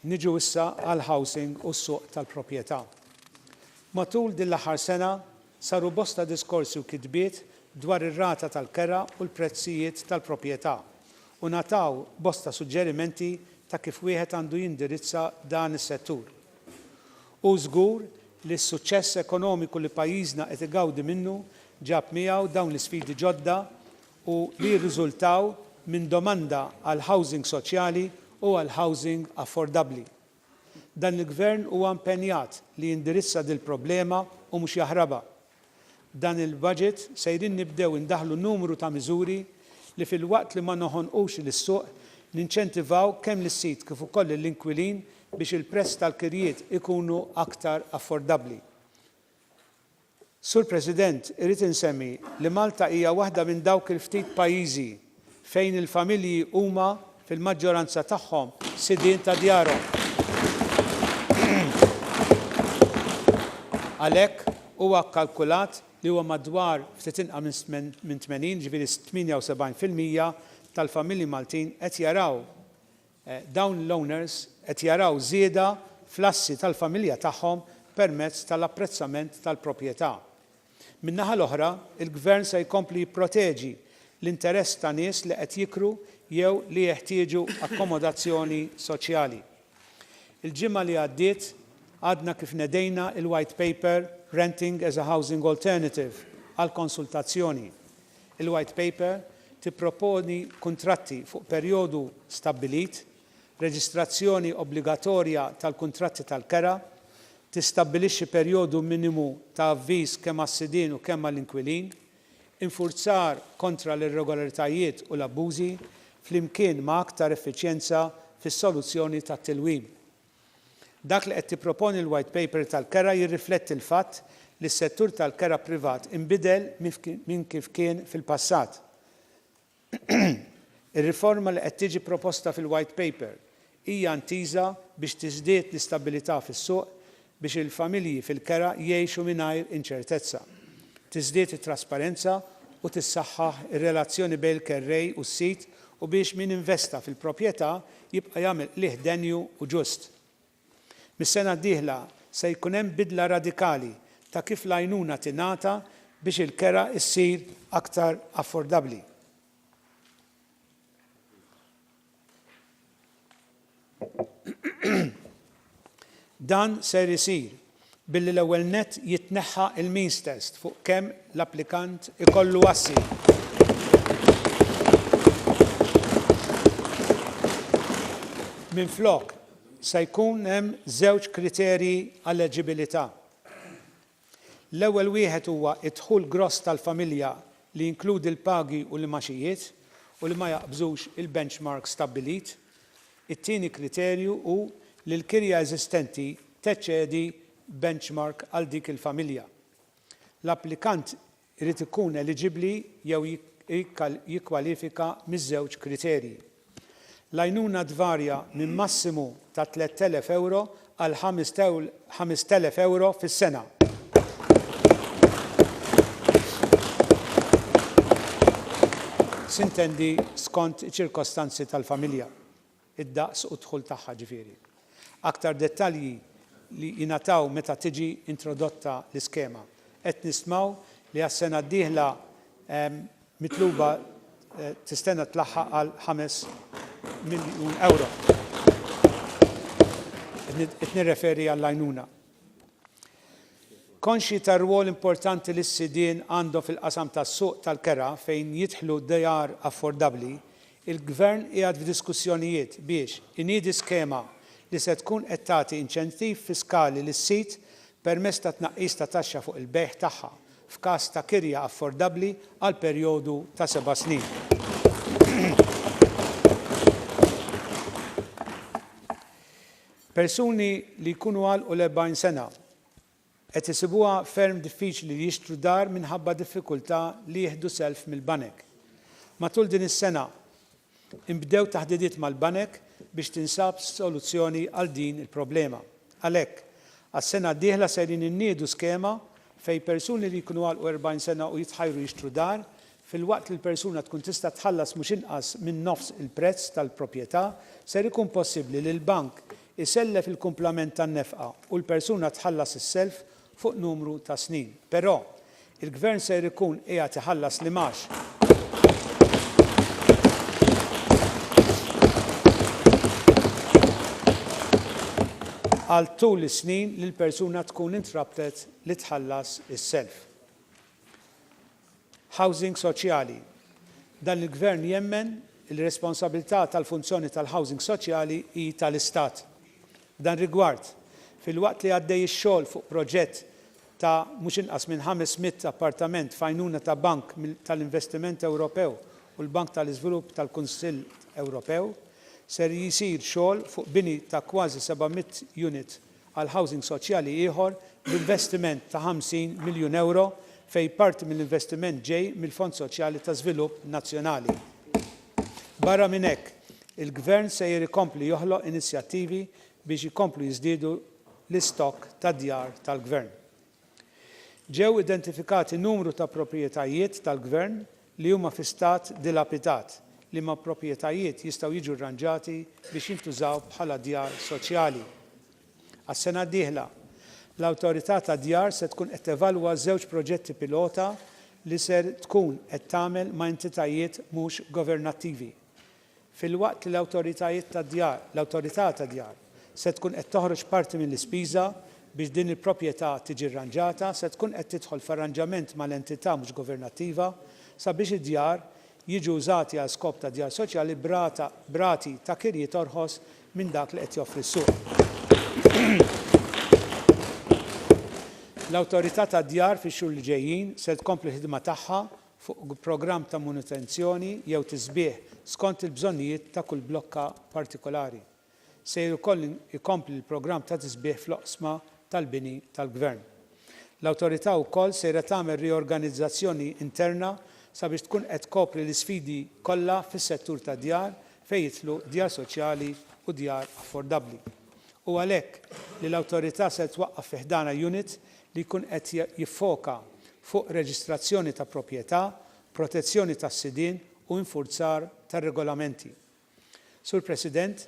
Niġu issa għall-housing u s-suq tal-proprjetà. Matul din l-aħħar sena, Saru bosta diskorsi u kitbiet dwar ir-rata tal-kera u l-prezzijiet tal-proprjetà, u ngħataw bosta suġġerimenti ta' kif wieħed għandu jindirizza dan is-settur. Hu żgur li s-suċċess ekonomiku li pajjiżna qed igawdi minnu ġab miegħu dawn l-isfidi ġodda u li jirriżultaw minn domanda għall-housing soċjali u għall-housing affordabbli. Dan il-Gvern huwa impenjat li jindirizza dil-problema u mhux jaħrabha. B'dan il-Budget sejrin nibdew indaħħlu numru ta' miżuri li filwaqt li ma noħonqux lis-suq, ninċentivaw kemm lis-sid kif ukoll lill-inkwilin biex il-prezz tal-kirjiet ikunu aktar affordabbli. Sur President, irrid insemmi li Malta hija waħda minn dawk il-ftit pajjiżi fejn il-familji huma fil-maġġoranza tagħhom sidien ta' djarhom. Għalhekk, huwa kkalkulat li huwa madwar ftit inqa' minn 80, jiġifieri 78 fil-mija tal-familji Maltin qed jaraw Dawn l-owners qed jaraw żieda fl-assi tal-familja tagħhom permezz tal-apprezzament tal-proprjetà. Min-naħa l-oħra, il-Gvern se jkompli jipproteġi l-interess ta' nies li qed jikru jew li jeħtieġu akkomodazzjoni soċjali. Il-ġimgħa li għaddiet għadna kif nedejna l-White Paper Renting as a Housing Alternative għall-konsultazzjoni. Il-White Paper tipproponi kuntratti fuq perjodu stabbilit, reġistrazzjoni obbligatorja tal-kuntratti tal-kera, tistabbilixxi perjodu minimu ta' avviż kemm għas-sidien u kemm għall-inkwilin, infurzar kontra l-irregolaritajiet u l-abbużi, flimkien ma' aktar effiċjenza fis-soluzzjoni tat-tilwim. Dak li qed tipproponi l-White Paper tal-kera jirrifletti l-fatt li s-settur tal-kera privat inbidel minn kif kien fil-passat. Ir-riforma li qed tiġi proposta fil-White Paper hija intiża biex tiżdied l-istabbilità fis-suq biex il-familji fil-kera jgħixu mingħajr inċertezza, tiżdied it-trasparenza u tissaħħaħ ir-relazzjoni bejn il-kerrej u s-sid u biex min investa fil-proprjetà jibqa' jagħmel qligħ denju u ġust. Mis-sena d-dieħla se jkun hemm bidla radikali ta' kif l-għajnuna tingħata biex il-kera ssir aktar affordabbli. Dan ser isir billi l-ewwel nett jitneħħa l-means test fuq kemm l-applikant ikollu assi minflok se jkun hemm żewġ kriterji għal eġibilità L-ewwel wieħed huwa d-dħul gross tal-familja li jinkludi l-pagi u l-imgħaxijiet u li ma jaqbżux il-benchmark stabbilit. It-tieni kriterju hu li l-kirja eżistenti teċċedi benchmark għal dik il-familja. L-applikant irid ikun eliġibbli jew jikkwalifika miż-żewġ kriterji. L-għajnuna tvarja minn massimu ta' 3,000 ewro għal 5,000 ewro fis-sena. Sintendi skont iċ-ċirkostanzi tal-familja. id-daqs u d-dħul tagħha ġifieri. Aktar dettalji li jingħataw meta tiġi introdotta l-iskema. Qed nistmaw li għas-sena d-dieħla mitluba tistenna tlaħħaq għal ħames miljun ewro. Qed nirreferi għall-għajnuna. Konxji tar-rwol importanti li s-sidien għandhom fil-qasam tas-suq tal-kera fejn jidħlu djar affordabbli, Il-Gvern qiegħed f'diskussjonijiet biex iniedi skema li se tkun qed tagħti inċentiv fiskali lis-sid permezz ta' tnaqqis ta' taxxa fuq il-bejgħ tagħha f'każ ta' kirja affordabbli għal perjodu ta' seba' snin. Persuni li jkunu għalqu l-40 sena qed isibuha ferm diffiċli li jixtru dar minħabba diffikultà li jieħdu self mill-banek. Matul din is-sena nbdew taħdidiet mal-banek biex tinsab soluzzjoni għal din il-problema. Għalhekk, għas-sena d-dieħla sejrin inniedu skema fejn persuni li jkunu għalqu 40 sena u jitħajru jixtru dar, filwaqt li l-persuna tkun tista' tħallas mhux inqas minn nofs il-prezz tal-proprjetà, ser ikun possibbli li l-bank isellef il-kumplament tan-nefqa u l-persuna tħallas is-self fuq numru ta' snin. Però, il-Gvern ser ikun qiegħed iħallas l-imgħax għal tul is-snin li l-persuna tkun intrabtet li tħallas is-self. Housing soċjali Dan il-Gvern jemmen li r-responsabilità tal-funzjoni tal-housing soċjali hi tal-Istat. F'dan rigward, filwaqt li għaddej ix-xogħol fuq proġett ta' mhux inqas minn 500 appartament f'għajnuna ta' Bank tal-Investiment Ewropew u l-Bank tal-Iżvilupp tal-Kunsill Ewropew, ser jsir xogħol fuq bini ta' kważi 700 unit għal housing soċjali ieħor b'investiment ta' 50 miljun ewro fejn parti mill-investiment ġej mill-Fond Soċjali ta' Żvilupp Nazzjonali. Barra minn hekk, il-Gvern sejjer ikompli joħloq inizjattivi biex ikomplu jiżdiedu l-istokk tad-djar tal-Gvern. Ġew identifikati numru ta' proprjetajiet tal-Gvern li huma fi stat dilapidat, liema proprjetajiet jistgħu jiġu rranġati biex jintużaw bħala djar soċjali. Għas-sena d-dieħla, l-Awtorità tad-Djar se tkun qed tevalwa żewġ proġetti pilota li ser tkun qed tagħmel ma' entitajiet mhux governattivi. filwaqt li l-awtoritajiet tad-djar, l-Awtorità tad-Djar, se tkun qed toħroġ parti mill-ispiża biex din il-proprjetà tiġi rranġata, se tkun qed tidħol f'arranġament mal-entità mhux governattiva sabiex id-djar jiġu użati għal skop ta' djar soċjali b'rata, b'rati ta' kirjiet orħos minn dak li qed joffri s-suq. L-Awtorità tad-Djar fix-xhur li ġejjin se tkompli l-ħidma tagħha fuq programm ta' manutenzjoni jew tisbiħ skont il-bżonnijiet ta' kull blokka partikolari. Sejr ukoll ikompli l-programm ta' tisbiħ fl-oqsma tal-bini tal-gvern. L-Awtorità wkoll sejra tagħmel riorganizzazzjoni interna sabiex tkun qed tkopri l-isfidi kollha fis-settur tad-djar fejn jidħlu djar soċjali u djar affordabbli. u għalhekk li l-Awtorità ser twaqqaf fi ħdanha unit li jkun qed jiffoka fuq reġistrazzjoni ta' proprjetà, protezzjoni tas-sidien u infurzar tar-regolamenti. Sur President,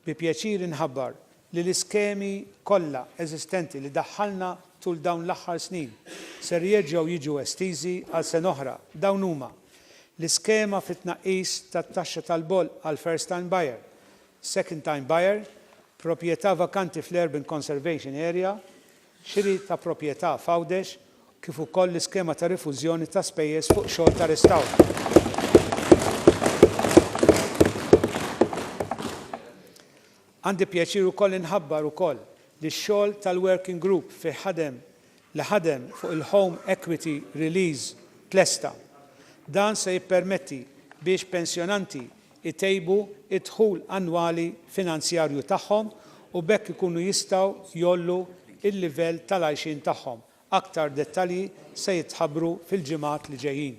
bi pjaċir inħabbar li l-iskemi kollha eżistenti li daħħalna tul dawn l-aħħar snin ser jerġgħu jiġu estiżi għal sena oħra. Dawn huma, l-iskema fit-tnaqqis tat-taxxa tal-bolq għall-first time buyer, Second time buyer, proprjetà vakanti fl-Urban Conservation Area, xiri ta' proprjetà f'Għawdex kif ukoll l-iskema ta' rifużjoni ta' spejjeż fuq xogħol ta' restawr. Għandi pjaċir ukoll inħabbar ukoll li x-xogħol tal-Working Group fih ħadem li ħadem fuq il-Home Equity Release tlesta. Dan se jippermetti biex pensjonanti jtejbu d-dħul annwali finanzjarju tagħhom u b'hekk ikunu jistgħu jgħollu l-livell tal-għajxien tagħhom. Aktar dettalji se jitħabbru fil-ġimgħat li ġejjin.